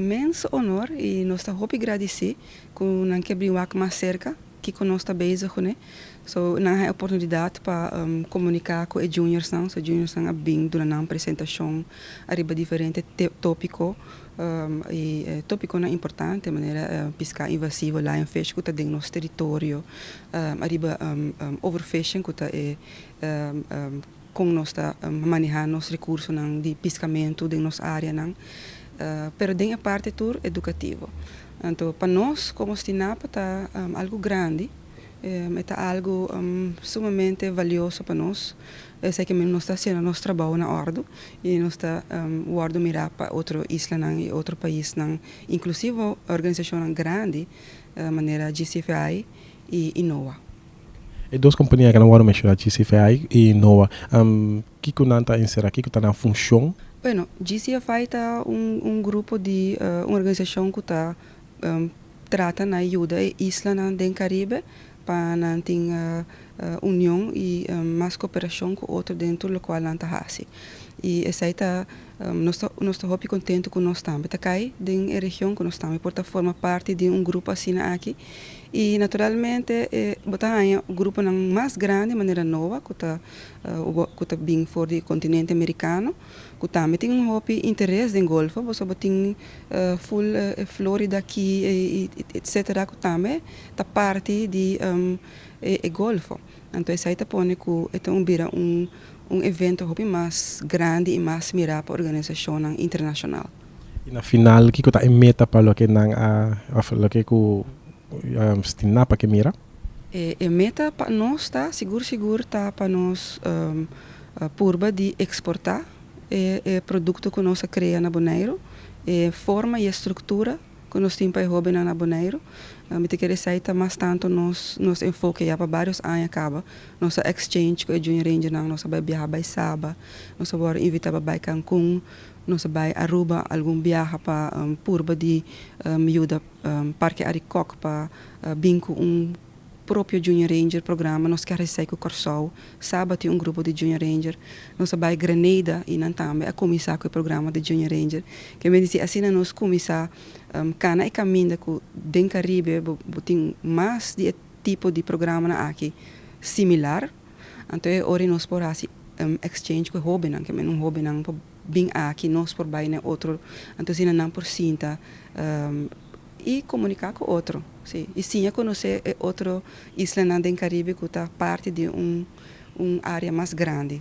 Mens honor y nos ta hopi gradeci cu nan ke bring wak mas cerca kico nos ta bezig cu ne. So nan haya oportunidad pa comunica cu e juniors nan, so e juniors nan a bring duna nan presentacion ariba diferente topico y topiconan importante manera pisca invasivo, lion fish cu ta den nos territorio, ariba overfishing cu ta e Kon nos ta manehá nos rekursonan di piskamentu den nos áreanan, pero den e parti tur edukativo. Anto pa nos komo Stinapa ta algu grandi, e ta algu sumamente valioso pa nos, esei ke men nos ta hasiendo nos trabou na òrdu i nos ta wòrdu mirá pa otro islanan i otro paisnan, inklusivo organisashonnan grandi manera GCFI. i Inowa. E dos kompania ke nan wòrdu menshoná, GCFI i Inowa, kiko nan ta enserá? Kiko ta nan funshon? Bueno, GCFI ta un un grupo di un organisashon ku ta trata na e yuda e islanan den Karibe pa nan tin union i mas koperashon ku otro den tur lokual nan ta hasi. I esei ta. Nos ta hopi kontentu ku nos tambe ta kai den e region, ku nos tambe por ta forma parti di un grupo asina aki. I naturalmente bo ta haña gruponan mas grandi manera Noa ku ta ku ta bin for di e kontinente Amerikano, ku tambe tin un hopi interes den golfo, boso bo tin ful e Florida Key etcetera ku tambe ta parti di e golfo. Anto esai ta pone ku e ta un bira un un evento hopi mas grandi i mas mirá pa organisashonnan internashonal. I na final kiko ta e meta pa loke nan a òf loke ku a stiná pa ke mira? E meta pa nos ta sigur sigur ta pa nos purba di eksportá e produkto ku nos a krea na Boneiru. E forma i e struktura Cu nos tin pa e hobennan na Boneiru. Mi ta kere esai ta mas tanto nos nos enfoke ya pa barios aña caba. Nos a exchange cu e Junior Rangernan, nos a bai biaha bai Saba, nos a worde invita pa bai Cancun, nos a bai Aruba algun biaha pa purba di yuda Parke Arikok pa bin cu un propio Junior Ranger programa nos ke resei ku Kòrsou saba tin un grupo di Junior Ranger nos a bai Grenada i nan tambe a kuminsá ku e programa di Junior Ranger ke mester si asina nos kuminsá kana e kaminda ku den Karibe bo bo tin mas di e tipo di programanan aki similar anto e ora nos por hasi exchange ku e hóbennan ke men un hóbennan por bin aki nos por bai na e otro anto asina nan por sinta I komuniká ku otro, si, i siña konosé e otro islanan den Karibe ku ta parti di un un área mas grandi.